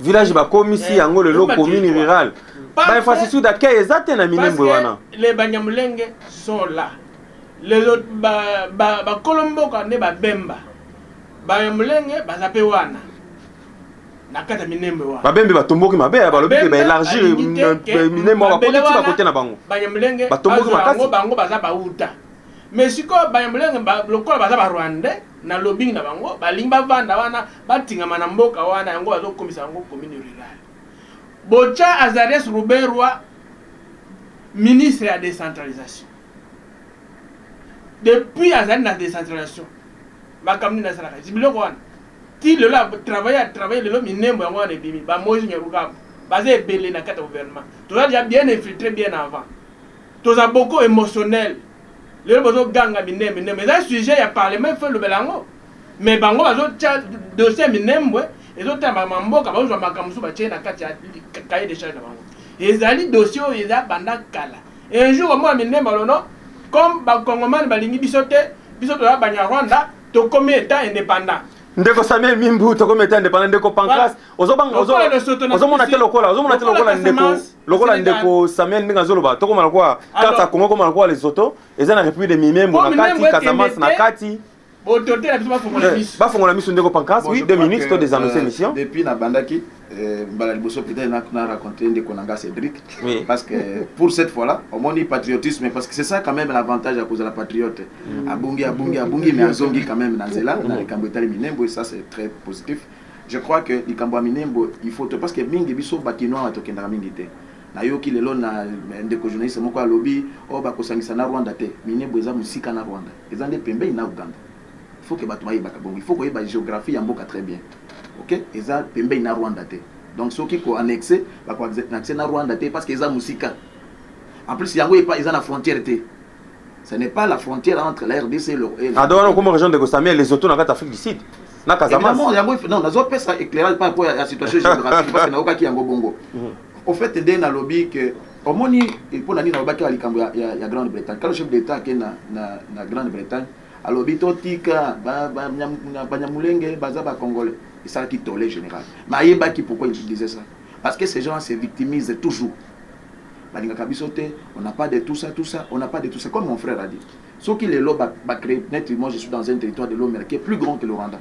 [SPEAKER 3] Village
[SPEAKER 1] bakomisi eh, yango lelo commune rurale. Ba infrastructure d'accueil eza te na Minembwe wana. Les Banyamulenge
[SPEAKER 3] sont là. Les autres ba ba, ba Kolomboka ne ba Bemba. Banyamulenge baza pe wana. na kati ya minembwe wana babembe batomboki mabe ya balobi te baelargir minembwe wana bakoti ti bakote na bango banyamulenge batomboki makasi bango baza bauta mais sikoyo banyamulenge lokola baza barwandais na lobing na bango balingi bavanda wana batingama na mboka wana yango bazokomisa yango commune rurale bocha azarias ruberwa ministre ya décentralisation depuis azali na decentralisation makambo nini asalaka biloko wana ti lelo atravaille atravaille lelo minembo yango wana ebimi bamoise nyarukabu baza ebele na kati ya gouvernement toza deja bien infiltre bien avant toza boko émotionnel lelo bozoganga minembo minembo eza sujet ya parlement ifo elobela yango me bango bazotya dossier ya minembwe ezotala makambo ya mboka bazozwa makambo mosusu batye na kati ya cahier de charge na bango ezali dossier oyo eza banda kala Un jour omona minemba lo non comme ba congoman balingi biso te biso toza banyarwanda tokomi etat independant ndeko samie
[SPEAKER 1] mimbu tokomi etat independant ndeko pancras ozomona te lokola ozomona te lokola ndeko lokola ndeko samuel ndenge azoloba tokoma lokola karte ya congo koma lokola lesoto eza na république de mimembo na kati casamance na kati Autorité na biso bafongola miso. Bafongola miso ndeko Pancras, oui, deux minutes to des annonces émission. Depuis na bandaki
[SPEAKER 2] euh, mbala liboso peut-être na na rencontré ndeko na nga Cédric oui. parce que pour cette fois là omoni patriotisme parce que c'est ça quand même l'avantage ya kozala patriote mm. abungi abungi abungi mais azongi quand même na nzela na likambo etali minembo et ça c'est très positif je crois que likambo ya minembo il faut parce que mingi biso bakinois batokendaka mingi te nayoki lelo na ndeko journaliste moko alobi oyo oh, bakosangisa na rwanda te minembo eza mosika na rwanda Eza nde pembeni n'a Ouganda il faut que batu bayebaka bongo il faut koyeba geographie ya mboka très bien ok eza pembeni n'a Rwanda te donc soki ko annexe ba ko annexe n'a Rwanda te parce que eza musika en plus yango epa eza na frontière te ce n'est pas la frontière entre la RDC et le ah donc on comme région de Gosamia
[SPEAKER 1] les autres na kati Afrique du Sud na Casamance évidemment yango non nazo pesa
[SPEAKER 2] éclairage par rapport à la situation géographique parce que nayoka ki yango bongo mhm. Au fait nde nalobi que omoni mpo na nini nalobaki na likambo ya, ya, ya grande bretagne kalo chef d'état ake na, na, na grande bretagne alobi totika banyamulenge ba, baza bacongolais esalaki tole général mais ayebaki pourquoi il disait ça parce que ces gens se victimisent toujours balingaka biso te on n'a pas de tout ça tout ça on n'a pas de tout ça comme mon frère a dit soki lelo bacree ba neti moi je suis dans un territoire de l'omera qui est plus grand que le rwanda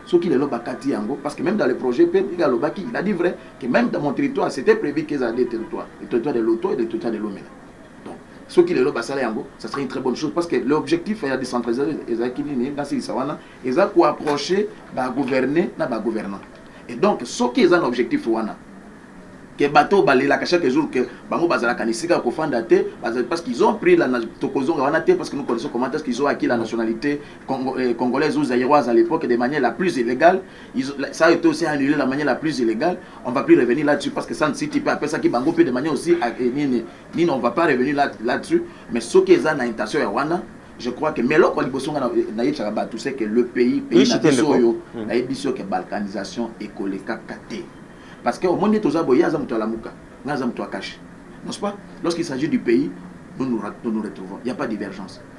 [SPEAKER 2] soki lelo bakati yango parce que même dans le projet pe il alobaki il a dit vrai que même dans mon territoire c'était prévu que ezala deux territoires le territoire de Loto et le territoire de Lomela donc soki lelo basala yango ça serait une très bonne chose parce que l'objectif ya décentralisation ezalaki nini nasilisa wana eza koapprocher bagouverner na bagouvernant et donc soki eza na objectif wana ke bato balelaka chaque jour ke bango bazalaka na esika ya kofanda te parce qu'ils ont pris la tokozonga wana te parce que nous connaissons comment est-ce qu'ils ont acquis la nationalité Congo, eh, Congolais ou Zaïroise à l'époque de manière la plus illégale. Ils, ça a été aussi annulé de la manière la plus illégale. On ne va plus revenir là-dessus parce que ça ne cite pas. Après ça, qui bango peut de manière aussi, eh, ni, ni, ni, on ne va pas revenir là-dessus. mais ce qui est en intention, Yawana, je crois que mais là quoi liboso nga na yebisaka bato c'est que le pays pays na biso oyo hmm. na yebi biso que balkanisation ekolekaka te parce que omoni ete oza boye aza moto alamuka nga aza moto akashi n'est-ce pas lorsqu'il s'agit du pays nous nous, nous, nous retrouvons il n'y a pas divergence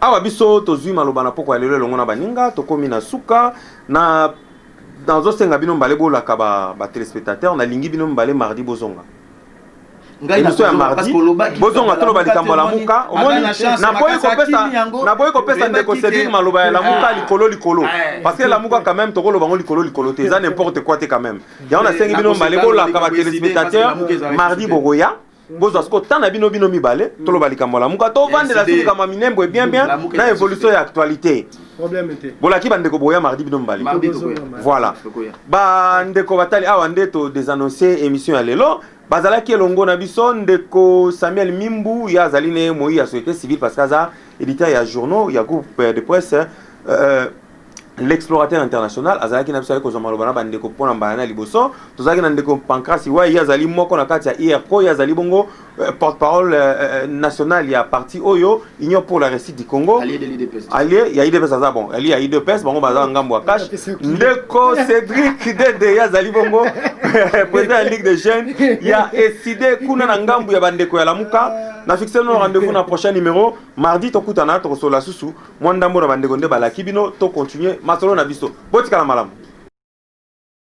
[SPEAKER 1] Awa biso tozwi maloba na pokwa ya lelo elongo na baninga, tokomi na suka na nazosenga bino mbale bolaka ba, ba telespectateurs nalingi bino mbale mardi bozonga ngai na ya mardi bozonga toloba likambo ya lamuka omoni naboyi kopesa naboyi kopesa ndeko cedric maloba ya lamuka ah. likolo likolo eh. parce que lamuka quand même tokoloba ngo likolo likolo te eza n'importe quoi te quand même yango nasengi bino mbale bolaka ba téléspectateurs mardi bokoya bozwa siko temps na bino bino mibale mm. toloba likambo ya lamuka tovandela so likambo ya minembo bien bien na évolution ya actualité bolaki
[SPEAKER 4] bandeko boya mardi
[SPEAKER 1] bino mibale voilà bandeko batali awa nde to desannonce émission ya lelo bazalaki elongo na biso ndeko samuel mimbu ye azali ne moyi ya société civile parce que aza éditeur ya journaux ya groupe de presse euh, l'explorateur international azalaki na biso ayaki kozwa maloba na bandeko mpo na mbala na liboso tozalaki na ndeko pancrasi wai ye azali moko na kati ya irco ye azali bongo euh, porte parole euh, euh, nationale ya parti oyo union pour la réussite du congo alie
[SPEAKER 2] ya idps aza
[SPEAKER 1] bon alie ya idps bango baza na ngambo ya cash ndeko cédric dede ye azali bongo président ya ligue de jeunes ya eside kuna na ngambo ya bandeko ya lamuka na fixe no rendez-vous na prochain numéro mardi tokutana tokosolola susu Mwa ndambo na bandeko nde balaki bino to continuer masolo na biso. Botikala malamu.